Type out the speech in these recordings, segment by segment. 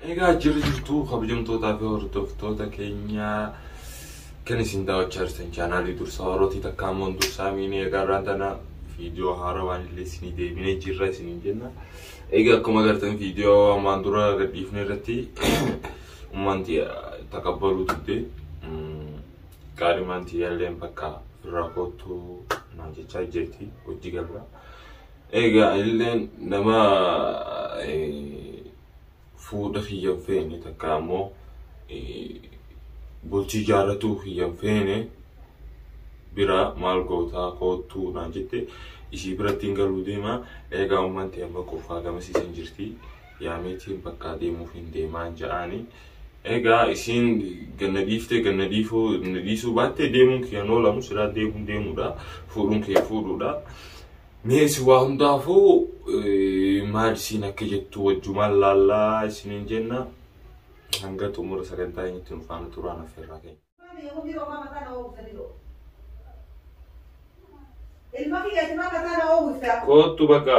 Egaa jirri jirtuu kabajamtootaa fi hordoftoota keenyaa kan isin daawwachaa jirtan chaanaalii dursaa warrootii takka ammoo dursaa miinii egaa irraan tana viidiyoo haaraa waan illee isinii deebinee jirra isiniin jenna. Egaa akkuma agartan viidiyoo ammaan dura gadhiifne irratti ummanti takabbaluu didde qaalimaan tiyyaalleen bakka irraa koottu naan jechaa jirti hojii galaa. Egaa illeen nama fuudha kiyya hin feene takka ammoo bultii jaarratuu kiyya hin feene bira maal gootaa koottuu naan jette isii birattiin galuu deema eegaa ummaan ta'e amma qofaa gamasiisan jirti yaameetiin bakkaa deemuuf hin deemaan ja'aani. Egaa isiin ganna dhiiftee ganna dhiifuu na dhiisuu baattee deemuun kiyya hin oolamu silaa deemuun deemuudha fuudhuun kiyya fuudhuudha. Mee si waa hundaafuu maal isiin akka jettu wajjumaan laallaa isiniin jenna. Hanga xumura sagantaa keenyatti nu faana turaan affeerraa keenya. Ilma kiyyaati maal mataa na oowwiftaa? Koottu bakka.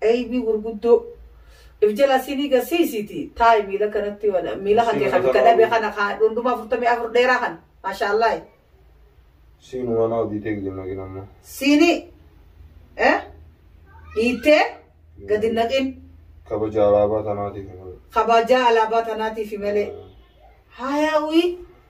Eybii gurguddoo if jalaa siinii gasiisiiti taa'i miila kanatti wala miila kan kee kan bikka dhabe kana kaa dhundhuma afurtamii afur dheeraa kan maashaallahi. Siinu waan hojii ta'e gadi naqin amma. Siini eh dhiittee gadi naqin. Kabaja alaabaa tanaatiif malee. Kabajaa alaabaa tanaatiif malee. Haayawii.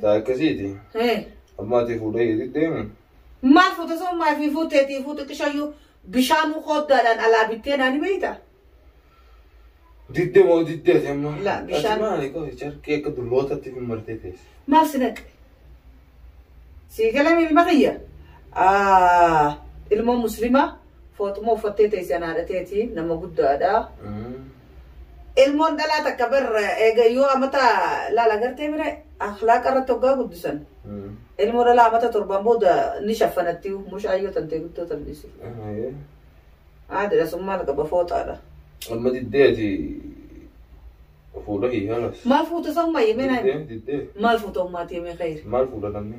Taa akkasiiti. Hee. Amma ati fuudha keetii deemu. Maal fuute sun maal fi fuuteetii fuutu qishayyuu bishaanuu kooddaadhaan alaa bittee naani beeyta. Didde moo didde ati amma. La, Ati bishaan- maali qofi carqii akka dullootatti fi martee teesse. Maal si naqe? Sii galamee ilma kiyya? Ah, ilmoo muslimaa? Fooxuma uffattee teessi an haadha teeti nama guddaadha. Ilmoon dhalaa takka bar eega yoo amata laala gartee bira akhlaaqa irratti hoggaa guddisan. Ilmoo dhalaa amata torbaan booda ni shaffanatti mushaayyoo tantee guddoo tan dhiisi. Aadira sun maal qaba fooxaadha. Amma diddee ati fuudha hiikalas. Maal fuuta san mayyee meenaa Diddee diddee maal fuuta ummaati yemee khayri. maal fuudha namni?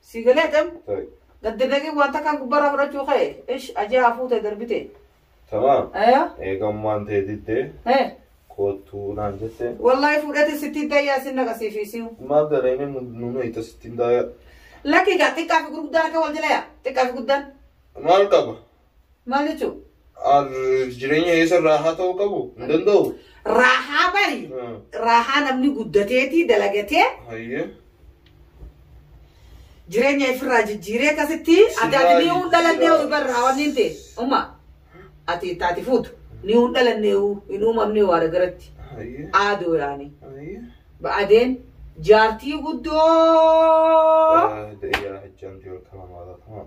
Sii galee tem? Tayi. Gaddi deeqii waan takkaan gubbarraa fudhachuu ka'e. Ish ajaa hafuutee darbite. Tamaam. Aya? Eegammaan tee diddee He. koottuu naan jette. Wallahi fuudhati sitti dayyaa sin naqasiifiisiu. Maaf dareenii nu meeyta sittiin daaya. Lakki gaa xiqqaa fi gurguddaan akka wal jala yaa. Xiqqaa fi guddaan. Maal qaba? Maal jechuun? Jireenya keessa raahaa ta'uu qabu hin danda'u. Raahaa bari. Hmm. Raahaa namni guddateetii dalagatee Hayyee. jireenya ifirraa jijjiiree akkasitti ati Sirraa ati ni hin dhalannee jijjiiraa. ibarraa waan hin ta'e. Uma ati itti ati fuutu ni hin dhalannee hin uumamnee waara garatti. Hayyee. Aadoo yaani. Hayyee. Ba'adeen jaartii guddoo. Ah, Deeyaa hajjaan yoo ta'u maal ta'u?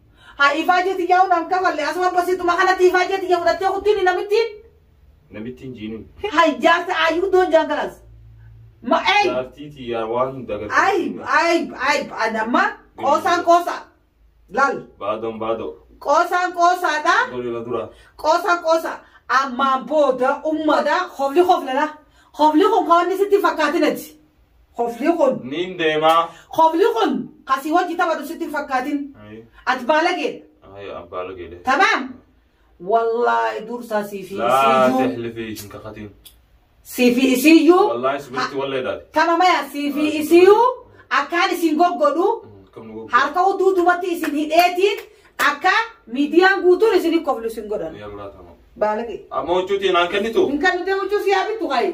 Haa ifaajee tiyyaa hunaan kafalle asuma basiituma kanatti ifaajee tiyya fudhattee kuttiin namittiin. Namittiin jiinin. Hay jaarsa ayyuu doon jaantalas. Ma ey. Jaartii tiyyaa waan hin dagattu. Ayib ayib ayib ani amma qoosaan qoosa. Laal Baadon baadoo. qoosaan qoosaadha. Golee na dura. Qoosaan qoosa. Ammaan booda ummata hofli hoflala. Hofli kun kawanni sitti fakkaatinati. Kofli kun. Niin deemaa. Kofli kun ka si wajji taphatu sitti hin fakkaatin. Ayi. Ati baalageedha. Ayi abbaa lageedhe. Tamaam. Wallaahi dursaa sii fi Laa isiiyyuu. tehlifii hin kakatiin. Sii fi isiiyyuu. Wallaahi sibirti wallee daati. Tamamaya sii fi isiiyyuu akkaan isin goggodhu. Kam nu goggoodha. harka utuu dubatti isin hidheetiin akka miidiyaan guutuun isin hin koflu isin godhan. Yallaa tamam. Baalage. Amma huccuutiin aan kennitu. Hin kan nuti huccuu si haa bittu kaayee.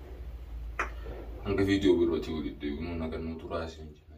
hanga viidiyoo birootii walitti deebinu nagaan nu turaa isin jenna.